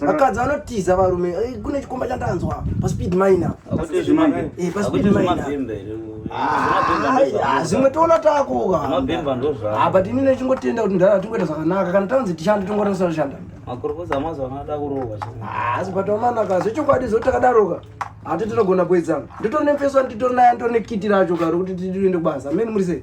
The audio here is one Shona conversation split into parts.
vakadzi vanotiza varume eh, kune chikomba chandanzwa paspeed mine eh, paspeed zvimwe toona takuka ah, but ini nechingotenda kuti ndara tingoita zvakanaka kana tanzi tishande tongoranisa toshanda makorokoza mazuva anoda kurohwa ah, asi but amanaka zvechokwadi zoti takadaroka hati tinogona kuedzana nditori nemfeso nditori naye nditori nekiti racho karo kuti tiende kubasa meni muri sei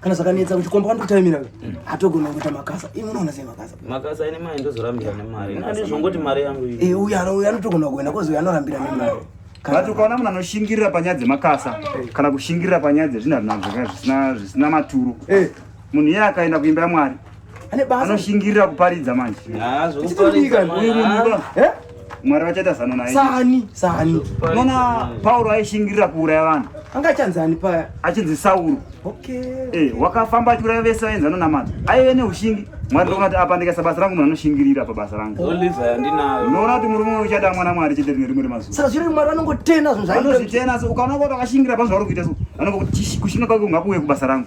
kana zvakanetsa kuchikomba kwanokutaimira hatogona kuita makasa imi unoona sei makasa makasa ine mari ndozorambira nemari ndizvongoti mari yangu iyi eh, uyu uyu anotogona kuenda kozi uyu anorambira nemari but ukaona munhu anoshingirira panyaya dzemakasa eh. kana kushingirira panyaya dzezvinhu zvinazvaka zvisina maturo eh. munhu iye akaenda kuimba yamwari ane basa anoshingirira kuparidza manje chitodika uyu munhu eh mwari vachaita zano naye sani sani unoona pauro aishingirira kuuraya vanhu anga achanzani paya achinzi sauro okay eh wakafamba achiuraya vese vaenzano namata aive neushingi mwari ndoona kuti apa ndikaisa basa rangu munhu anoshingirira pabasa rangu unoona kuti murume uyu uchada mwana mwari chete rine rimwe remazuva saka zviri mwari vanongotena zvinhu zvaanozvitena so ukaona kuti akashingira pazvauri kuita so anongokuti kushinga kwake ungakuuye kubasa rangu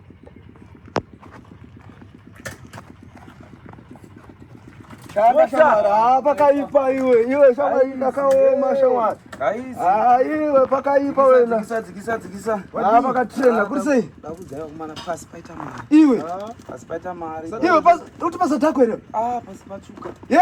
Ah, pakaipa iwe iwe shamwari ndakaoma shamwari ah, iwe pakaipa wena ah, pakachena kuri sei iwe iwe uti pasa tako here ye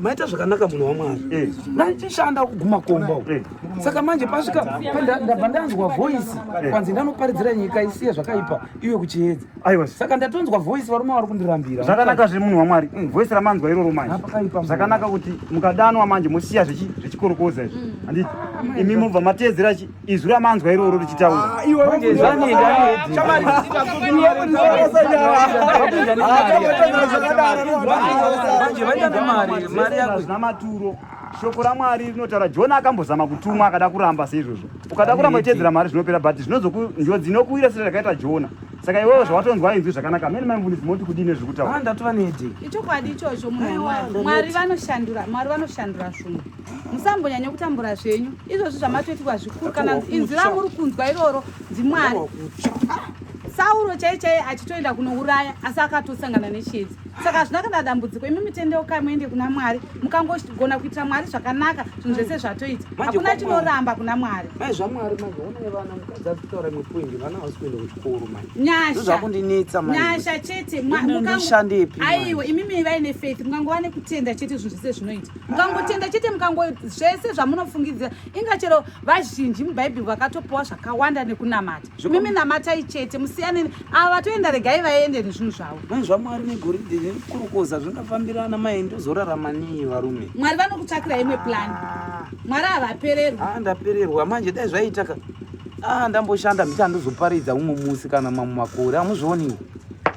maita zvakanaka munhu wamwari eh. ndaichishanda kuguma komba u eh. saka manje pasvika ndabva ndanzwa voisi eh. kwanzi ndanoparidzira nyika isiye zvakaipa iwe kuchiedza saka ndatonzwa voisi varume vari kundirambira zvakanaka zve munhu wamwari mm. voisi ramanzwa iroro manje zvakanaka kuti mukadanwa manje mosiya zvechikorokoza izvi mm. anditi imi mubva mateedzera izwi ramanzwa iroro richitaura zvina maturo shoko ramwari rinotaura jona akambozama kutumwa akada kuramba seizvozvo ukada kuramba uchiedzera mari zvinopera but zvinozonjodzi inokuwira sira rakaita jona saka iwewo zvawatonzwa inzwi zvakanaka amene maimvundisi moti kudii nezvekutaura ndatova nedi ichokwadi ichocho mwari vanoshandura mwari vanoshandura zvunhu musambonyanya kutambura zvenyu izvozvi zvamatoitirwa zvikuru kana inzwi ramuri kunzwa iroro ndimwari sauro chai chai achitoenda kunouraya asi akatosangana nechiedzi saka hazvina kana dambudziko imi mitendeukai muende kuna mwari mukangogona kuitira mwari zvakanaka zvinhu zvese zvatoita hakuna chinoramba kuna mwari nyasha chete aiwa imi mivai nefaith mukangova nekutenda chete zvinhu zvese zvinoita mukangotenda chete mukango zvese zvamunofungidzira inga chero vazhinji mubhaibheri vakatopiwa zvakawanda nekunamata mimi namatai chete musiyane ava vatoenda regai vaende nezvinhu zvavo mai zvamwari negoridhe nekukurukoza zvingafambirana mai ndozorarama nei varume mwari vanokutsvakira imwe plani ah. mwari havapererwa ah, ndapererwa manje dai zvaiitaka ah, ndamboshanda mbicha ndozoparidza umwe musi kana mamwe makore hamuzvioniwo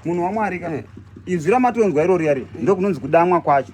munhu wamwari ka eh. inzwi ramatonzwa irori yari ndokunonzi kudamwa kwacho